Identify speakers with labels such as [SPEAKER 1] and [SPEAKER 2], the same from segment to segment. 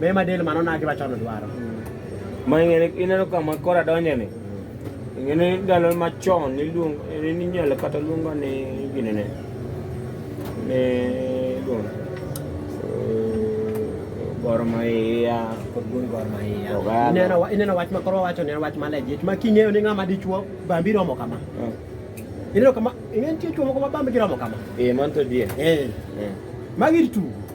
[SPEAKER 1] Me ma del mano naki machon dwaro. Ma ing'eni
[SPEAKER 2] ineno kama kora donje ni. Ing'eni ndalo machon niluong ninyalo kata luongo ni gini ne. Ne luong. Gor Mahia. Kod Gor Gor
[SPEAKER 1] Mahia. Oganda. Ineno wa- ineno wach ma koro wacho ni en wach ma legit ma king'eyo ni ng'ama dichuo bambi romo kama. Ah. Ineno kama ing'e nitie chuo moko ma bambi giromo kama. Eh, man to die. Eh. Eh. Magi tugo.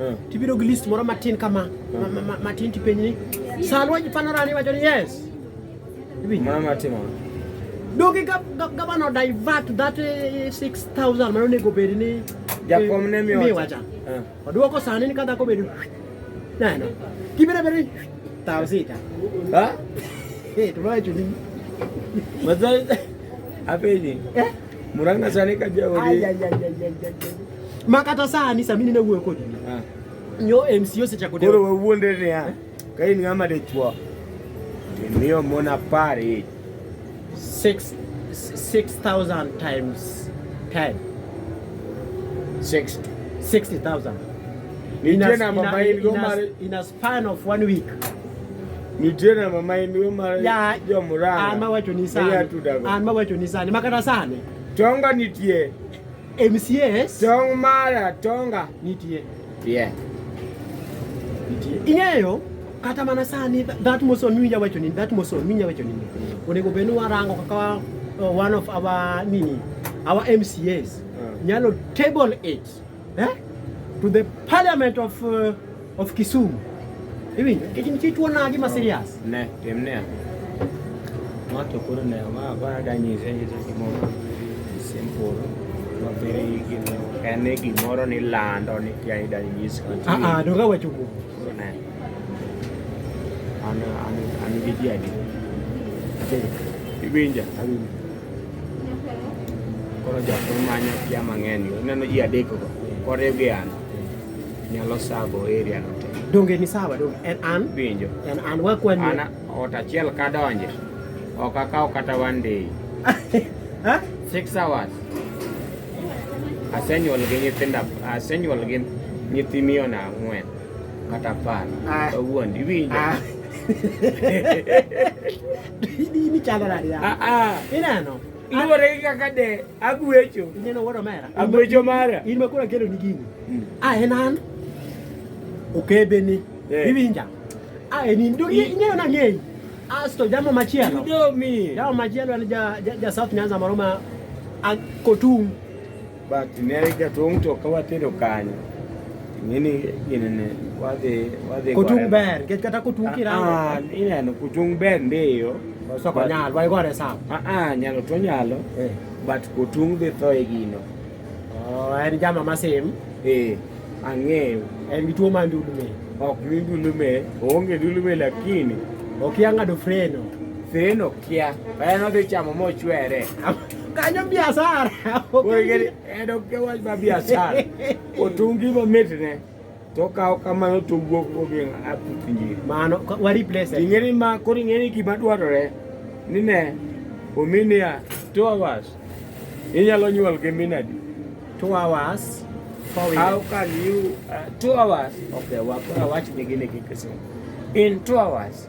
[SPEAKER 1] Eh. Tibiro gi list moro matin kama, matin tipenj ni, Salwa Jipanorani wacho ni yes. Mama
[SPEAKER 2] timo. Dogi
[SPEAKER 1] gabano divert that 6000 eh, mano nego bed ni eh, jakom ne miyo
[SPEAKER 2] wacha.
[SPEAKER 1] Oduoko sani ni kadhako bedo. Neno. Kibiro bedo tao sita. Ha?
[SPEAKER 2] Eh, tunayo
[SPEAKER 1] chuni. Mazali.
[SPEAKER 2] Apeji. Eh? Muranga sani ka jaori.
[SPEAKER 1] Makata sani sami nina wuoyo kodi. Ah. Nyo MCO secha kodi. Koro wawuonde ni ha.
[SPEAKER 2] Ka in ng'ama dichwo. Imiyo mon apar each. Six,
[SPEAKER 1] 6,000 times 10. 60. 60,000. Nitie namba ma in go mar Span of one week. Nitena
[SPEAKER 2] mama emiwe mara ya jo murara.
[SPEAKER 1] Ama wacho ni sana. Ama wacho ni sana. Makata sana. Tonga
[SPEAKER 2] nitie. MCS.
[SPEAKER 1] Tong mara
[SPEAKER 2] tonga nitie.
[SPEAKER 1] Yeah. Nitie. Ing'eyo kata mana sani that moson miwinja wacho ni that moson miwinja wacho ni. Onego bed ni warango kaka uh, one of our nini our MCAs. Uh. Ah. Nyalo table it. eh? to the parliament of, uh, of Kisumu iwinjo nikech nitie tuo nagi ma serious ne tim ne
[SPEAKER 2] ng'ato koro ne ma ba da nyise nyise gimoro simple ma bere gino en ni gimoro ni lando ni kia ida nyis ah ah doga wacho go
[SPEAKER 1] ne
[SPEAKER 2] an an an gi jadi iwinja awinja Koro jok manyo kia mang'eny go ineno ji adek go koriw gi an nyalo sabo area no te. Donge ni sawa donge
[SPEAKER 1] en an Winjo. en an
[SPEAKER 2] wakwan
[SPEAKER 1] An ot achiel
[SPEAKER 2] kadonje ok akaw kata one day. ha Six hours. Asenyuol gi nyithinda asenyuol gi nyithi miona ang'wen kata apar. Ah. Kawuondi iwinjo. ah Ini chalo nadi ya? Ah
[SPEAKER 1] ah. Ineno. Luwore gi
[SPEAKER 2] kaka de agwecho. Ineno wuod omera.
[SPEAKER 1] Agwecho mara. In
[SPEAKER 2] ma koro akelo ni gini. Hmm.
[SPEAKER 1] Ah en an. Okebe ni. Eh. Iwinja. Ah en in. Ineno na ng'eyi. Asto jambo machielo. Jambo machielo en ja South Nyanza moro ma Kotung.
[SPEAKER 2] But ne jatung' to ka watedo kanyo ng'eni ginene wadhi wadhi kotung' ber
[SPEAKER 1] nikech kata kotung' kirango ah, ah, ineno kotung'
[SPEAKER 2] ber ndiyo soko nyalo wai
[SPEAKER 1] gore sawa ah, ah nyalo to
[SPEAKER 2] nyalo eh. but kotung' dhi tho e gino oh, en
[SPEAKER 1] jama masim eh
[SPEAKER 2] ang'eyo en gi tuo mar
[SPEAKER 1] ndulume ok ni ndulume
[SPEAKER 2] oonge ndulume lakini okia ng'ado
[SPEAKER 1] freno freno
[SPEAKER 2] kia en odhi chamo mochwere kanyo
[SPEAKER 1] biasara
[SPEAKER 2] en ok wach ma biasara otungi mamitne to kawo kamano to wuok ogi aputh njiri mano wa
[SPEAKER 1] replace ing'eni ma koro ing'eni
[SPEAKER 2] gima dwarore ni ne ominia two hours inyalo nyuol gi minadi two
[SPEAKER 1] hours How
[SPEAKER 2] can you uh, two hours? Okay, wachni gini kikisema in two hours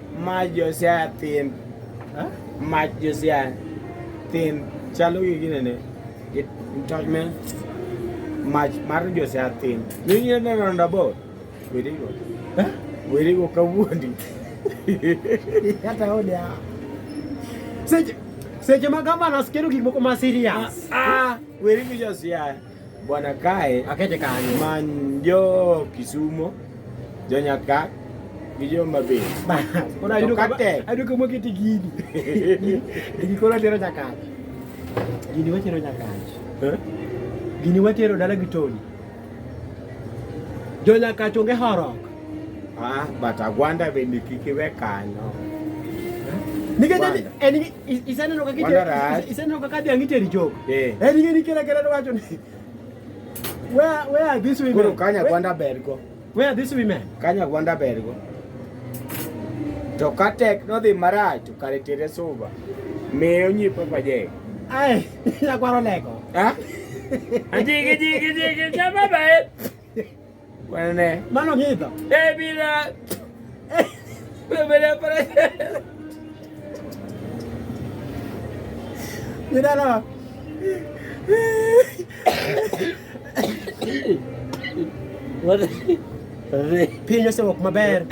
[SPEAKER 1] Maj
[SPEAKER 2] Josiah thin. Huh? Maj Josiah thin. Chalo gi gine ne. It touch me. Maj mar Josiah thin. Ni ni ne ronda bo. Wiri go. Huh? Wiri go kawuondi. Kata
[SPEAKER 1] ode a. Seche seche ma gavana skero gik moko ma serious. Ah, ah. wiri go
[SPEAKER 2] Josiah. Bwana kae akete kanyo man
[SPEAKER 1] jo
[SPEAKER 2] Kisumo jo Nyaka gi jo Mabei koro ayudo
[SPEAKER 1] ka tek ayudo ka mokete gini gini koro atero Nyakach gini watero Nyakach eh? gini watero dala gi Tony jo Nyakach onge horok ah
[SPEAKER 2] but Agwanda bende kik iwe kanyo
[SPEAKER 1] eh? nikech en isaneno kakadhi ang'ite e richogo eh. en ing'e ni kila kila wacho ni where where are these women koro kanya gwanda bergo
[SPEAKER 2] where are these women
[SPEAKER 1] kanya gwanda bergo
[SPEAKER 2] to ka tek nodhi marach to kare tere suba miyo nyi papa je ai
[SPEAKER 1] nyakwaro leko ha ajigi jigi
[SPEAKER 2] jigi chama bae Wanene. Mano kita.
[SPEAKER 1] Eh bila.
[SPEAKER 2] Eh. Bila para.
[SPEAKER 1] Mira no.
[SPEAKER 2] What?
[SPEAKER 1] Piny osewok maber.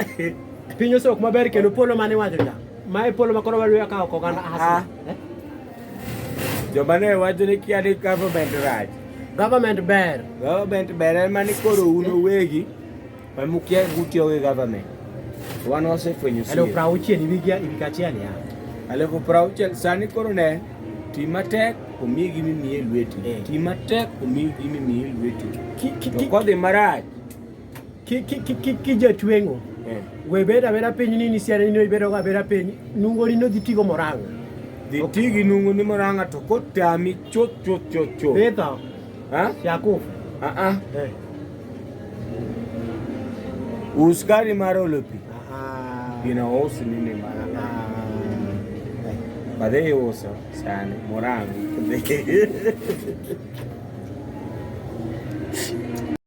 [SPEAKER 1] Piny osewok maber kendo polo mane wacho ja. Mae polo makoro wadwa kawo koganda hasa. Ah. Eh? Joma
[SPEAKER 2] ne wacho ni kia ni government rach. Government ber.
[SPEAKER 1] Government ber en
[SPEAKER 2] mani koro un owegi ma mukia gutiyo gi government. Wan wasefwenyo siri. Elfu prauchiel iwigia
[SPEAKER 1] iwikachiel ya. Elfu prauchiel
[SPEAKER 2] sani koro ne ti matek omi gi mimiye lweti. Eh. Ti matek omi gi mimiye lweti. To kodhi marach
[SPEAKER 1] kijatwengo eh. webeda bera piny nini siana nino ibedoga bera piny nungo nino dhi tigo moranga dhi tigi
[SPEAKER 2] nungo ni moranga to kotami chot chot chot chot betho
[SPEAKER 1] yakufu aa
[SPEAKER 2] eh. us gari mar olo pi gina us nini mar badhe iuso sani moranga